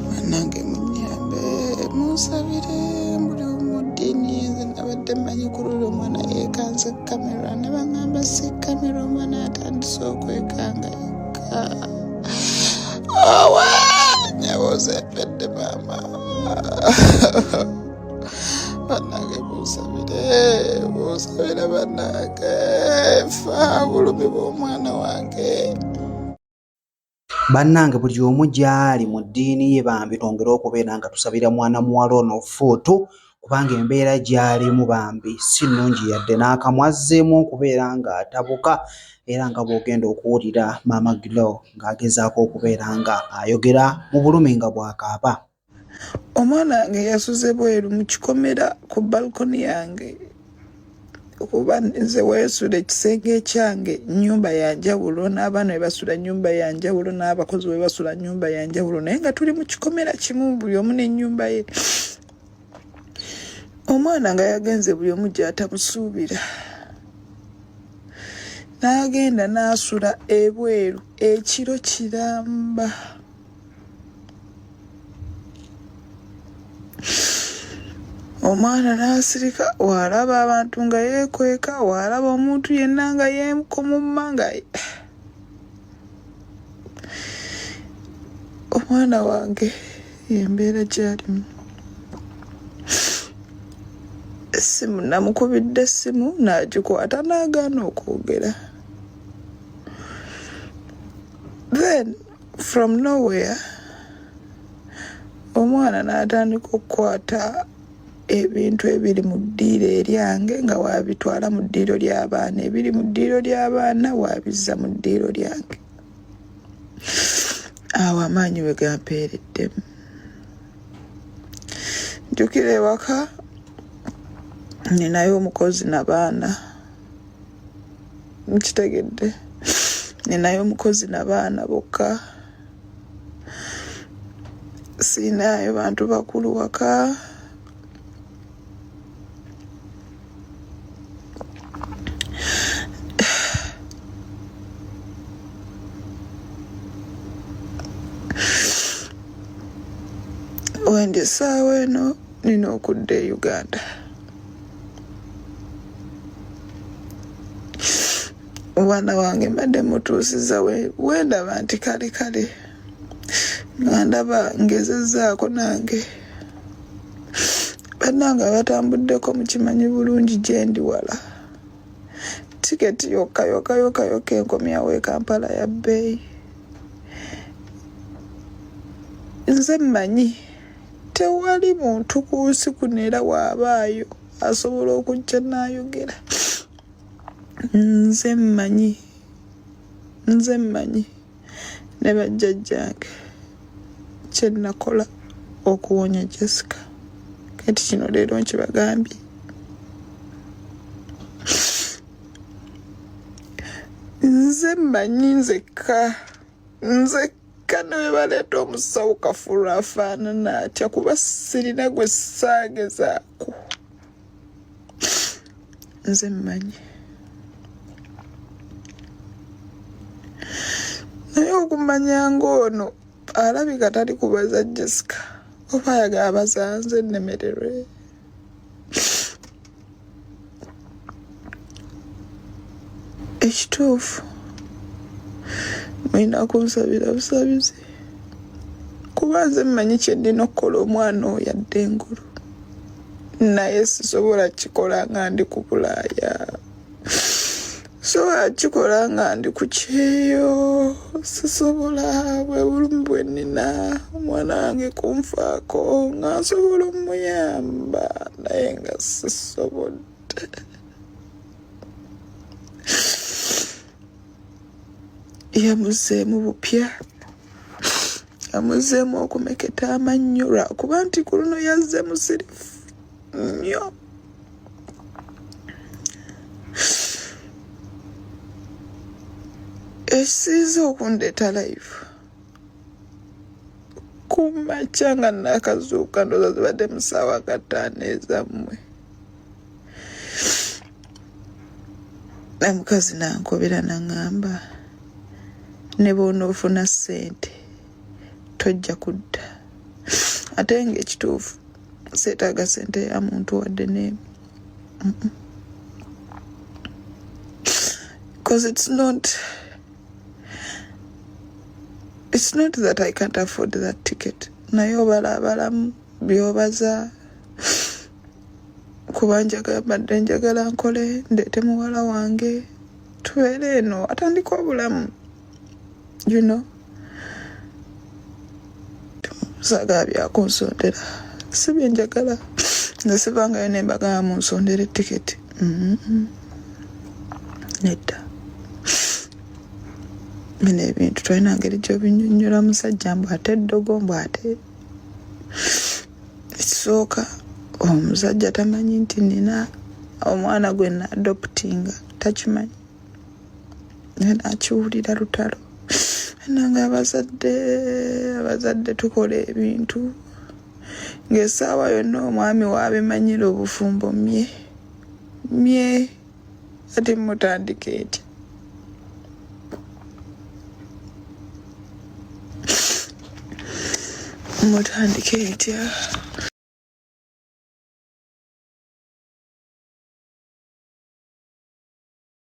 banange munyambe munsabire mbuli omudini nze nabadde manyi kulula omwana yekanze kamera ne baŋamba si kamera omwana atandise okwekanga yekka owa nyaboza empedde maama banange munsabire munsabire banange fa bulumi bw'omwana wange Bannange buli omu gy'ali mu ddiini ye bambi twongere okubeera nga tusabira mwana muwala ono ofuutu kubanga embeera gy'alimu bambi si nnungi yadde n'akamu azzeemu okubeera ng'atabuka era nga bw'ogenda okuwulira maama Glo ng'agezaako okubeera nga ayogera mu bulumi nga bw'akaaba. omwana wange yasuze bweru mu kikomera ku balkoni yange kuba nze weesula ekisenge ekyange nyumba ya njawulo n'abaana we basula nyumba ya njawulo n'abakozi we basula nyumba ya njawulo naye nga tuli mu kikomera kimu buli omu n'ennyumba ye omwana nga yagenze buli omu gyatamusuubira n'agenda n'asula ebweru ekiro kiramba omwana n'asirika waalaba abantu nga yeekweka waalaba omuntu yenna nga yeekomumma nga omwana wange yembeera gyalimu essimu namukubidde essimu n'agikwata n'agaana okwogera then from nowhere omwana n'atandika okukwata ebintu ebiri mu ddiiro eryange nga waabitwala mu ddiiro ly'abaana ebiri mu ddiiro ly'abaana waabizza mu ddiiro lyange awo amaanyi we gampeereddemu njukira ewaka ninayo omukozi nabaana nkitegedde ninayo omukozi nabaana bokka siinayo bantu bakulu waka wendisaawa eno nina okudda e uganda omwana wange mbadde mutuusiza wendaba nti kale kale nga ndaba ngezezaako nange bannange abatambuddeko mukimanyi bulungi gyendi wala tiketi yokka yokka yokka yokka enkomyawo e kampala ya bbeeyi nze mmanyi tewali muntu ku nsi kuno era waabaayo asobola okujja n'ayogera nze mmanyi nze mmanyi ne bajjajjange kye nnakola okuwonya jessica kati kino leero nkibagambye nze mmanyi nzekka nzekka kano webaleeta omusawo kafulu afaanana atya kuba sirina gwe saagezaako nze mmanyi naye okumanya ng'ono alabika tali kubaza jessica oba ayaga abazanze nnemererwe ekituufu mulina kunsabira busabizi kuba nze mmanyi kyendina okukola omwana oyo adde engulu naye sisobola kikola nga ndi ku bulaaya so akikola nga ndi ku kyeyo sisobola bwe bulumu bwe nnina omwana wange kunfaako nga nsobola omuyamba naye nga sisobodde yamuzeemu bupya amuzeemu okumeketa amannyo lwakuba nti ku luno yazze musirifu nnyo ekisinza okundeeta live kumakya nga nakazuuka ndoza zibadde musaawa kataano ezammwe namukazi nankobera naŋamba ne bwonoofuna ssente tojja kudda ate nga ekituufu seetaaga sente ya muntu wadde neemu because it's not it's not that i can't afford that ticket naye obalabalamu byobaza kuba njagala mbadde njagala nkole ndeete muwala wange tubeere eno atandika obulamu you know saagala byakunsondera si byenjagala nze sivangayo nembagala munsondera etiketi mm-hmm. nedda bino ebintu tolina ngeri gyobinyonyola musajja mbu ate eddogo mbu ate ekisooka omusajja tamanyi nti nina omwana gwe nadoputinga takimanyi naye nakiwulira lutalo nange abazadde abazadde tukola ebintu ng'esaawa yonna omwami waabimanyira obufumbo mye mye ati mutandika eti mutandika etya